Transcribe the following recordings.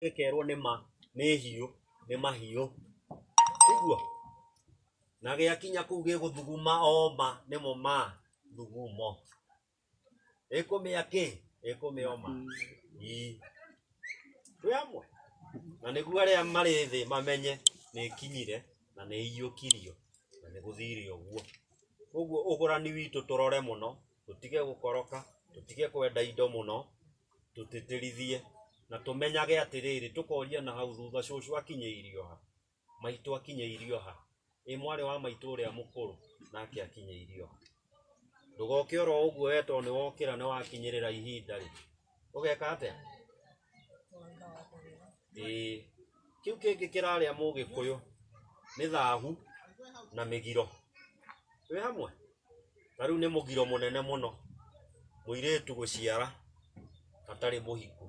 gekerwo nĩ ma nĩ hiũ nĩ mahiũ iguo na gĩakinya kũu gĩgũthuguma oma nĩmo ma thugumo ĩkũmĩa kĩ ĩkũmĩoma ii twĩ hamwe na nĩguo arĩa marĩ thĩ mamenye nĩ kinyire na nĩ iyũkirio na nĩ gũthire ũguo ũguo ũgũrani witũ tũrore mũno tũtige gũkoroka tũtige kwenda indo mũno tũtĩtĩrithie na tũmenyage atĩrĩrĩ tũkoria na hau thutha cũcũ akinyĩirio ha maitũ akinyĩirio ha ĩ mwarĩ wa maitũ ũrĩa mũkũrũ nake akinyĩirio ha ndũgoke oro ũguo we tondũ nĩwokĩra nĩwakinyĩrĩra ihinda rĩ ũgeka atĩa ĩĩ kĩu kĩngĩ kĩrarĩa mũgĩkũyũ nĩ thahu na mĩgiro wĩ hamwe na rĩu nĩ mũgiro mũnene mũno mũirĩtu gũciara atarĩ mũhiku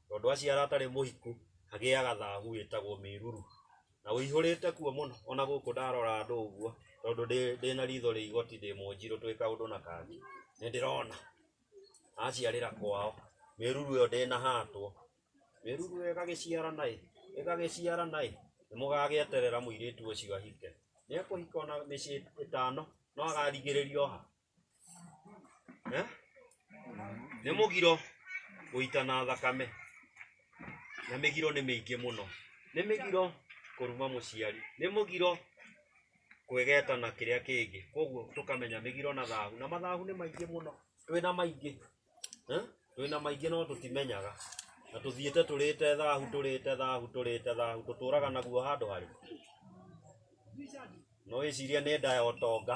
tondũ aciara atarĩ mũhiku agĩaga thahu ĩtagwo mĩruru na ũihũrĩte kuo mũno ona gũkũ ndarora andũ ũguo tondũ ndĩ- ndĩna ritho rĩa igoti ndĩ mũnjirũ twĩ kaũndũ na kangĩ nĩ ndĩrona aciarĩra kwao mĩruru ĩyo ndĩnahatwo mĩruru ĩyo ĩgagĩciarana ĩ ĩgagĩciarana ĩ nĩ mũgagĩeterera mũirĩtu ũcio ahike nĩ ekũhika ona mĩciĩ ĩtano no agarigĩrĩrio ha Eh? nĩ mũgiro gũitana thakame na mĩgiro nĩ mĩingĩ mũno nĩ mĩgiro kũruma mũciari nĩ mũgiro kwĩgeta na kĩrĩa kĩngĩ koguo tũkamenya mĩgiro na thahu na mathahu nĩ maingĩ mũno twĩna maingĩ Eh? twĩna maingĩ no tũtimenyaga na tũthiĩte tũrĩte thahu tũrĩte thahu tũrĩte thahu tũtũraga naguo handũ harĩ no wĩcirie nĩ nda ya ũtonga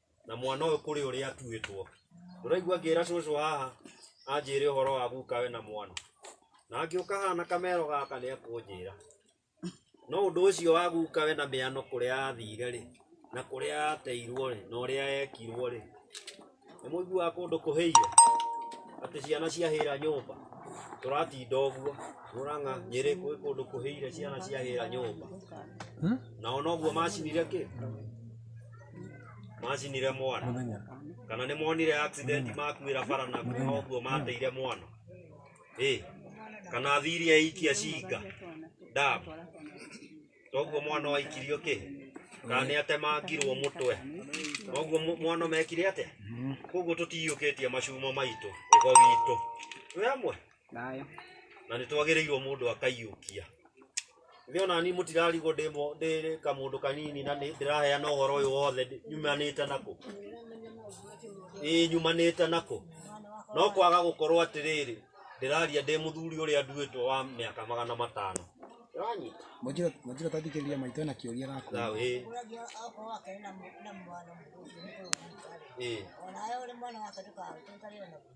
na mwana ũyũ kũrĩ ũrĩa atuĩtwo ndũraigua ngĩra cũcũ haha anjĩre ũhoro wa gukawe na mwana na angĩũka haha na kamero gaka nĩ ekũnjĩra no ũndũ ũcio wa gukawe na mĩano kũrĩa athire rĩ na kũrĩa ateirwo rĩ na ũrĩa ekirwo rĩ nĩ mũiguaga kũndũ kũhĩire atĩ ciana ciahĩra nyũmba tũratinda ũguo mũrang'a nyĩrĩ kwĩ kũndũ kũhĩire ciana ciahĩra nyũmba nao noguo macinire kĩ macinire mwana mũthenya kana nĩ monire accident makuĩra bara na kuoha ũguo mateire mwana ĩ kana thiri aikia cinga dam toguo mwana waikirio kĩ kana nĩ atemangirwo mũtwe noguo mu- mwana mekire atĩa koguo tũtiyũkĩtie macuma maitũ ũgo witũ twĩ hamwe Thayũ. na nä twagä rä irwo må ndå akaiyå kia githä ona ni må tirarigwo ndä mo- ndä kamå ndå kanini na ndä raheana å horo å yå wothe ndĩ- nyumanä te nakå ä nyumanä te nakå no kwaga gå korwo atä rä rä ndä raria ndä må thuri å rä a nduä two wa mä aka magana matano Nĩwanyita? Mwanjiro mwanjiro tathikĩrĩria maitũ na kĩũria gaku. Thayũ, ĩ, Ũragia akorwo akĩrĩ na mũ- na mwana mũkũrũ, mũkũrũ mũtarĩ. ĩ. Onawe ũrĩ mwana wake ndũkahutĩkanĩre naguo.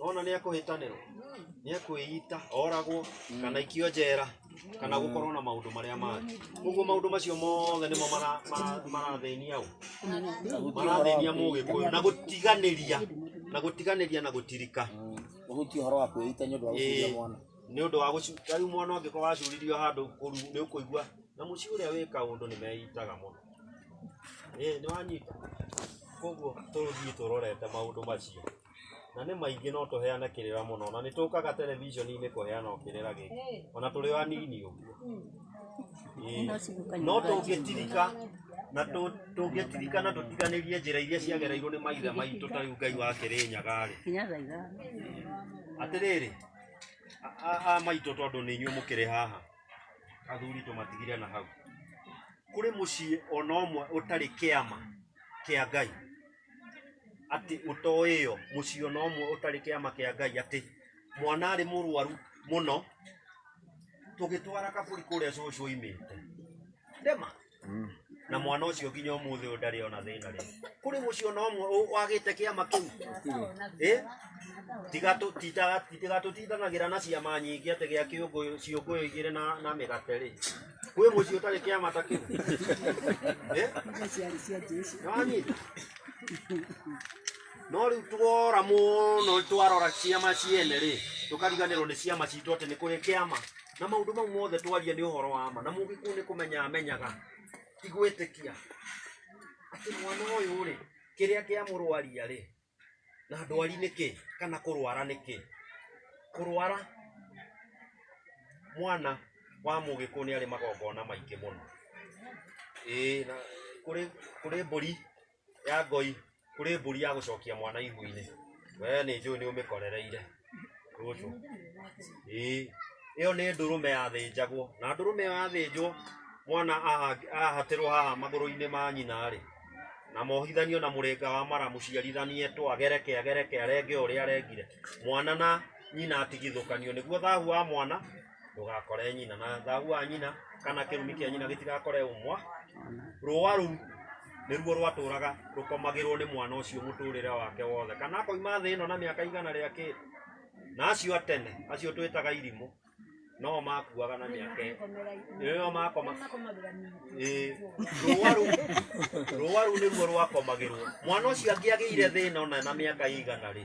ona nä akå hä tanä rwo nä akwä ita oragwo kana ikio njera kana gå korwo na maå ndå marä a mangä koguo maå ndå macio mothe nä mo mara- mara- marathänia å marathänia må gä kå yå na gå tiganä ria na gå tiganä ria na gå tirika uhuti uhoro wa kwĩita nĩ ũndũ wa gũkuria Ĩĩ, mwana nĩ ũndũ wa gũcu- rĩu mwana ũngĩkorwo wacuririo handũ kũru nĩ ũkũigua na mũciĩ ũrĩa wĩka ũndũ nĩ meitaga mũno ĩĩ nĩ wanyita koguo tũthiĩ tũrorete maũndũ macio na nĩ maingĩ no tũheane kĩrĩra mũno na nĩ tũkaga terebiceni-inĩ kũheana o kĩrĩra gĩkĩ ona tũrĩ o anini ũguo Ĩĩ. no tũngĩtirika na tũ- tũngĩtirika na tũtiganĩrie njĩra iria ciagereirwo nĩ maithe maitũ ta rĩu ngai wa kĩrĩnyaga rĩ Nginya thaa ithano. atĩrĩrĩ a- a- a maitũ tondũ nĩ inyuĩ mũkĩrĩ haha athuri tũmatigire na hau kũrĩ mũciĩ ona ũmwe ũtarĩ kĩama kĩa ngai atĩ ũtoĩo mũciĩ ona ũmwe ũtarĩ kĩama kĩa ngai atĩ mwana arĩ mũrwaru mũno tũgĩtwara kabũri kũrĩa cũcũ oimĩte ndema na mwana ũcio nginya ũmũthĩ ũyũ ndarĩ ona thĩna rĩ kũrĩ mũciĩ ona ũmwe ũ- wagĩte kĩama kĩu Eh? Tiga tũ- tita- tiga tũtindanagĩra na ciama nyingĩ atĩ gĩa kĩũngũyũ ciũngũyũ igĩrĩ na na mĩgate rĩ kwĩ mũciĩ ũtarĩ kĩama ta kĩu Eh? Nĩwanyita? no rĩu twora mũno twarora ciama ciene rĩ tũkariganĩrwo nĩ ciama citũ atĩ nĩ kũrĩ kĩama na maũndũ mau mothe twaria nĩ ũhoro wa ma na mũgĩkũũ nĩ kũmenya amenyaga ti gwĩtĩkia atĩ mwana ũyũ rĩ kĩrĩa kĩa mũrwaria rĩ na ndwari nĩ kĩ kana kũrwara nĩ kĩ kũrwara mwana wa mũgĩkũũ nĩ arĩ magongona maingĩ mũno ĩĩ na kũrĩ kũrĩ mbũri ya ngoi kũrĩ mbũri ya gũcokia mwana ihu-inĩ we nĩ njũĩ nĩ ũmĩkorereire rũcũ ĩĩ ĩyo nĩ ndũrũme yathĩnjagwo na ndũrũme ĩyo yathĩnjwo mwana aha- ahatĩrwo haha magũrũ-inĩ ma nyina rĩ na mohithanio na mũrĩnga wa mara mũciarithanie twa gereke agereke arenge ũrĩa arengire mwana na nyina atigithũkanio nĩguo thahu wa mwana ndũgakore nyina na thagu wa nyina kana kĩrumi kĩa nyina gĩtigakore ũmwa rũa rũu nĩruo rwatũraga rũkomagĩrwo nĩ mwana ũcio mũtũrĩre wake wothe kana akoima thĩ ĩno na mĩaka igana rĩa kĩrĩ na acio atene acio twĩtaga irimũ no makuaga na mĩaka ĩyo makoma rũa rũu rũa rũu nĩruo rwakomagĩrwo mwana ũcio angĩagĩire thĩna ona na mĩaka igana rĩ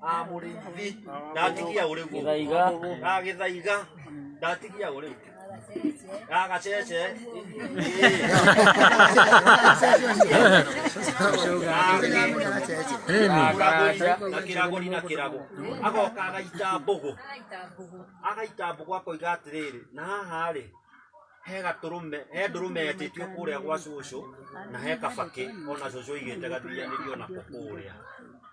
Ah, mũrĩithi ndatigia ũrĩu Gĩthaiga. Ah, gĩthaiga ndatigia ũrĩu Ah, gacece na kĩrago na kĩrago agoka agaita mbũgũ agaita mbũgũ akoiga atĩrĩrĩ na haha rĩ he gatũrũme he ndũrũme yetĩtio kũrĩa gwa cũcũ na he kabakĩ ona cũcũ igĩte gathianĩrio nako kũrĩa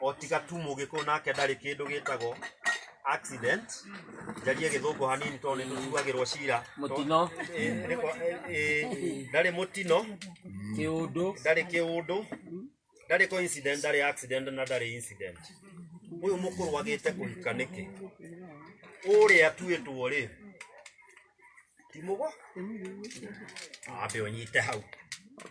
o tiga tu mũgĩkũyũ nake ndarĩ kĩndũ gĩtagwo accident njarie gĩthũngũ hanini tondũ nĩ tũtuagĩrwo cira mũtino Eh, nĩko- eh, eh, ndarĩ mũtino kĩũndũ ndarĩ kĩũndũ ndarĩ coincident ndarĩ accident na ndarĩ incident ũyũ mũkũrwagĩte kũhika nĩkĩ ũrĩa tuĩtwo rĩ timogo ambe unyite hau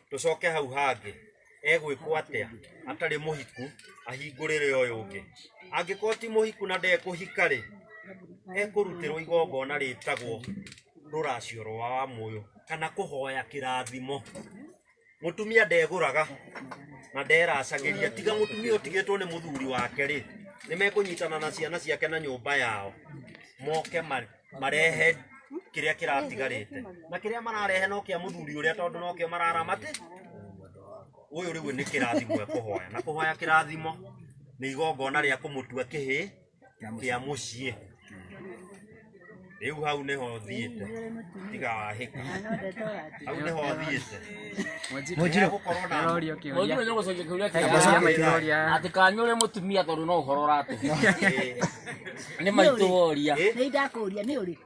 tucoke hau hangi egwikwo atia atari muhiku ahingurire uyu ungi angikorwo ti muhiku na ndekuhika ri ekurutirwo igongona ritagwo ruracio rwa wa muyu kana kuhoya kirathimo mutumia ndeguraga na nderacagĩria tiga mutumia ũtigĩtwo nĩ mũthuri wake rĩ nĩ mekũnyitana na ciana ciake na nyũmba yao moke ma- marehe kĩrĩa kĩratigarĩte na kĩrĩa mararehe no kĩa mũthuri ũrĩa tondũ no kĩo mararamate ũyũ rĩu nĩ kĩrathimo ekũhoya na kũhoya kĩrathimo nĩ igongona rĩa kũmũtua kĩhĩ kia mucie riu hau niho thiite tiga wahika hau niho thiite Mujiro. gukorwo na Roria kĩũria. Mwanjiro nĩ gũcokia kĩũria Kĩũria kĩu. kĩũria. Atĩ kanyu ũrĩ mũtumia tondũ no ũhoro ũratũhe. Nĩ maitũ woria. Nĩ ndakũria nĩ ũrĩkũ?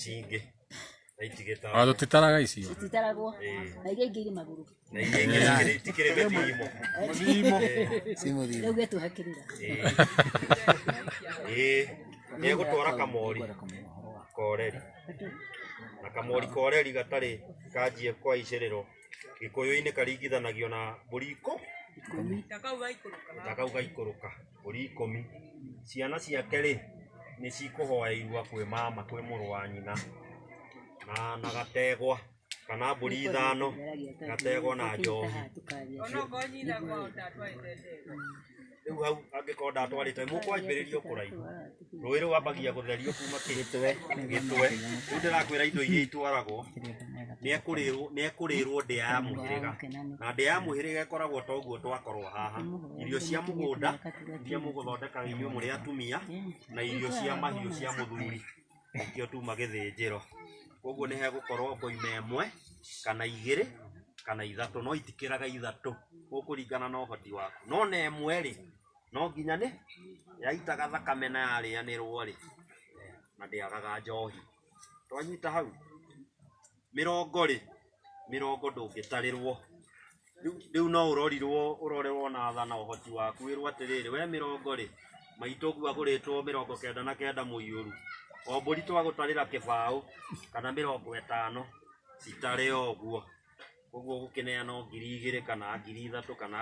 cingĩ na itigĩtara Ona tũtitaraga icio. Titaragwo. Na iria ingĩ irĩ magũrũ. na iria ingĩ itikĩrĩ- itikĩrĩ mĩthimo Rĩu getu hakĩrĩra. ĩĩ nĩ egũtwara kamori koreri na kamori koreri gatarĩ kanjie kwa icĩrĩro gĩkũyũ-inĩ karingithanagio na mbũri ikũ na kau gaikũrũka mbũri ikũmi. Ciana ciake rĩ, nĩ cikũhoya irua kwĩ mama, kwĩ mũrũ wa nyina. Na na gategwa, kana mbũri ithano, gategwa na njohi. Rĩu hau angĩkorwo ndatwarĩte, mũkwanjĩrĩria o kũraihu. rũĩ rwambagia gũtherio kuma gĩtwe gĩtwe rĩu ndĩrakwĩra indo iria itwaragwo nĩekũrĩrwo nĩekũrĩrwo ndĩa ya mũhĩrĩga na ndĩa ya mũhĩrĩga ĩkoragwo ta ũguo twakorwo haha irio cia mũgũnda iria mũgũthondekaga inyuĩ mũrĩ atumia na irio cia mahiũ cia mũthuri nĩkĩo tuma gĩthĩnjĩro koguo nĩ hegũkorwo ngoima ĩmwe kana igĩrĩ kana ithatũ no itikĩraga ithatũ gũkũringana na ũhoti waku no na ĩmwe rĩ no nginya nĩ yaitaga thakame na yarĩanĩrwo rĩ na ndĩagaga njohi twanyita hau mĩrongo rĩ mĩrongo ndũngĩtarĩrwo Rĩu- rĩu no ũrorirwo ũrorerwo na tha na ũhoti waku wĩrwo atĩrĩrĩ we mĩrongo rĩ maitũ ũguo agũrĩtwo mĩrongo kenda na kenda mũiyũru o mbũri twagũtarĩra kĩbaũ kana mĩrongo ĩtano citarĩ o ũguo koguo gũkĩneana o ngiri igĩrĩ kana ngiri ithatũ kana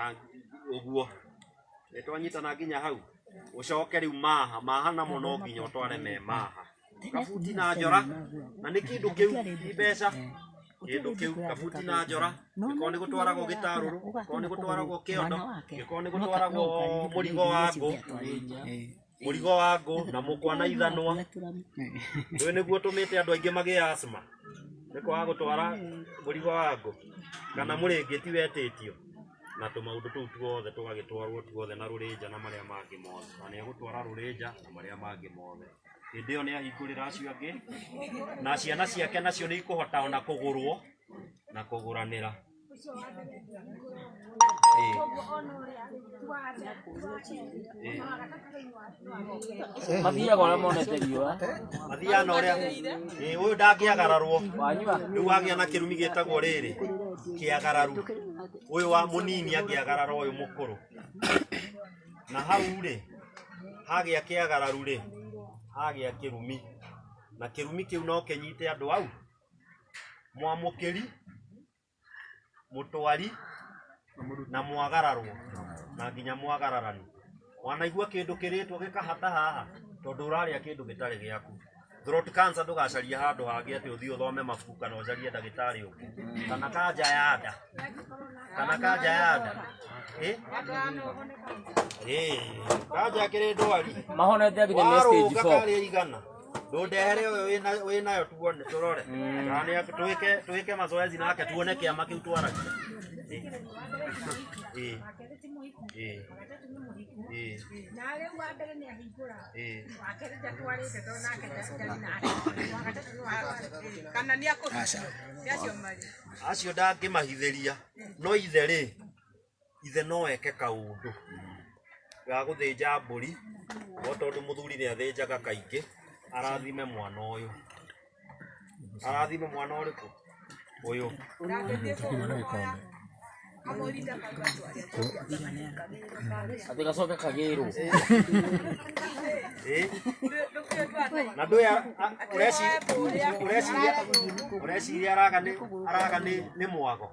ũguo nĩ twanyitana nginya hau ũcoke rĩu maha maha namo no nginya ũtware me maha kabuti na njora na nĩ kĩndũ kĩu ti mbeca kĩndũ kĩu kabuti na njora gĩkorwo nĩ gũtwaragwo gĩtarũrũ gĩkorwo nĩ gũtwaragwo kĩondo gĩkorwo nĩ gũtwaragwo mũrigo wa ngũ mũrigo wa ngũ na mũkwa na ithanwa rĩu nĩguo tũmĩte andũ aingĩ magĩe asma nĩ kwaga gũtwara mũrigo wa ngũ kana mũrĩngĩti wetĩtio na tũmaũndũ tũu tuothe tũgagĩtwarwo tuothe na rũrĩnja na marĩa mangĩ mothe na nĩ egũtwara rũrĩnja na marĩa mangĩ mothe hĩndĩ ĩyo nĩ ahingũrĩra acio angĩ na ciana ciake nacio nĩ ikũhota ona kũgũrwo na kũgũranĩra mathiaga ũrĩa monete riũa mathiaga na ũrĩa Ĩĩ, ũyũ ndangĩagararwo wanyua rĩu wagĩa na kĩrumi gĩtagwo rĩrĩ kĩagararu ũyũ wa mũnini angĩagarara ũyũ mũkũrũ na hau rĩ hagĩa kĩagararu rĩ hagĩa kĩrumi na kĩrumi kĩu no kĩnyite andũ au mwamũkĩri mũtwari na mwagararwo na nginya mwagararani wanaigua kĩndũ kĩrĩtwo gĩkahata haha tondũ ũrarĩa kĩndũ gĩtarĩ gĩaku throat cancer ndũgacaria handũ hangĩ atĩ ũthiĩ ũthome mabuku kana ũcarie ndagĩtarĩ ũngĩ kana kanja ya nda kana kanja ya nda Eh? Eh, kanja kĩrĩ ndwari mahonete nginya mĩeri stage warũga four karĩa igana ndundehere uyu wina- winayo tuone turore kana ni ak- tuwike tuwike mazoezi nake tuone kiama kiu twaragia Eh. Eh. Eh. Eh. kana nä akå acio marä acio ndangĩmahithĩria no ithe rĩ ithe no eke kaũndũ ga gũthĩnja mbũri o tondũ mũthuri nĩ athĩnjaga kaingĩ arathime mwana ũyũ arathime mwana ũrĩkũ ũyũ Atĩ gacoke kagĩrwo. Eh? na ndũĩ a- a- ũreci- ũreciria ũreciria araga nĩ araga nĩ nĩ mwago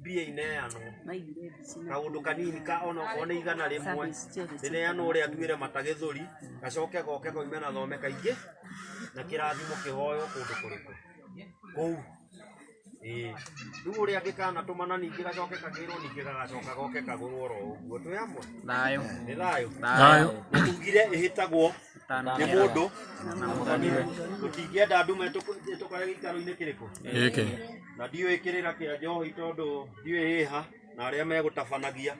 mbia ineanwo kaundu kanini ka ona okorwo nĩ igana rĩmwe rĩneanwo ũrĩa nduĩre mata gĩthũri gacoke goke koime na thome kaingĩ na kĩrathimo kĩhoywo kũndũ kũrĩkũ kũu Ĩĩ. rĩu ũrĩa gĩkanatũmana ningĩ gacoke kagĩrwo ningĩ gagacoka goke kagũrwo oro ũguo twĩ hamwe Thayũ. nĩ thayũ Thayũ. na tugire ĩhĩtagwo nĩ mũndũ na mũthoni we. tũtingĩenda ndume ĩtũkore gĩikaro-inĩ kĩrĩkũ Gĩkĩ. na ndiũĩ kĩrĩra kĩa njohi tondũ ndiũĩ hĩha na arĩa megũtabanagia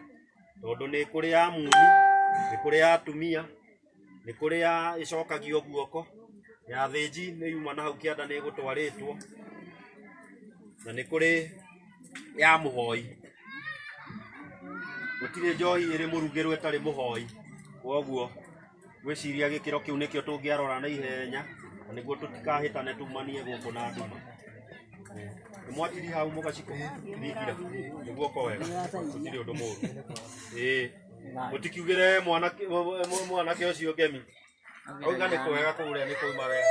tondũ nĩ kũrĩ ya muni nĩ kũrĩ ya atumia nĩ kũrĩ ya ĩcokagio guoko ya thĩnji nĩ yuma na hau kĩanda nĩ ĩgũtwarĩtwo na nĩ kũrĩ ya mũhoi gũtirĩ njohi ĩrĩ mũrugĩrwo ĩtarĩ mũhoi kwoguo gwĩciria gĩkĩro kĩu nĩkĩo tũngĩarora na ihenya na nĩguo tũtikahĩtane tumanie gũkũ na nduma nĩ mwatiri hau mũgaciko thingira nĩguo ko wega gũtirĩ ũndũ mũru ĩĩ mũtikiugĩre mwanake mũ- mũ- mwanake ũcio ngemi auga nĩ kwega kũrĩa nĩ kũima wega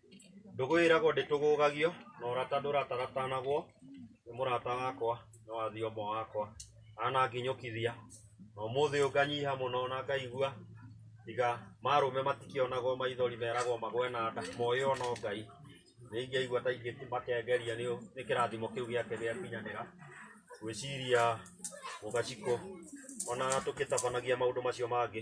Ndũgũ ĩragwo ndĩtũgũgagio, na ũrata ndũratagatanagwo, nĩ mũrata wakwa, nĩ wa thiũmwe wakwa, ananginyũkithia, na ũmũthĩ ũyũ nganyiha mũno na ngaigua, tiga marũme matikĩonagwo maithori meragwo magwe na nda, moĩ o no Ngai, nĩ ingĩaigua ta ingĩmakengeria nĩ nĩ kĩrathimo kĩu gĩake gĩakinyanĩra, ngwĩciria Mũgacikũ, ona tũkĩtabanagia maũndũ macio mangĩ,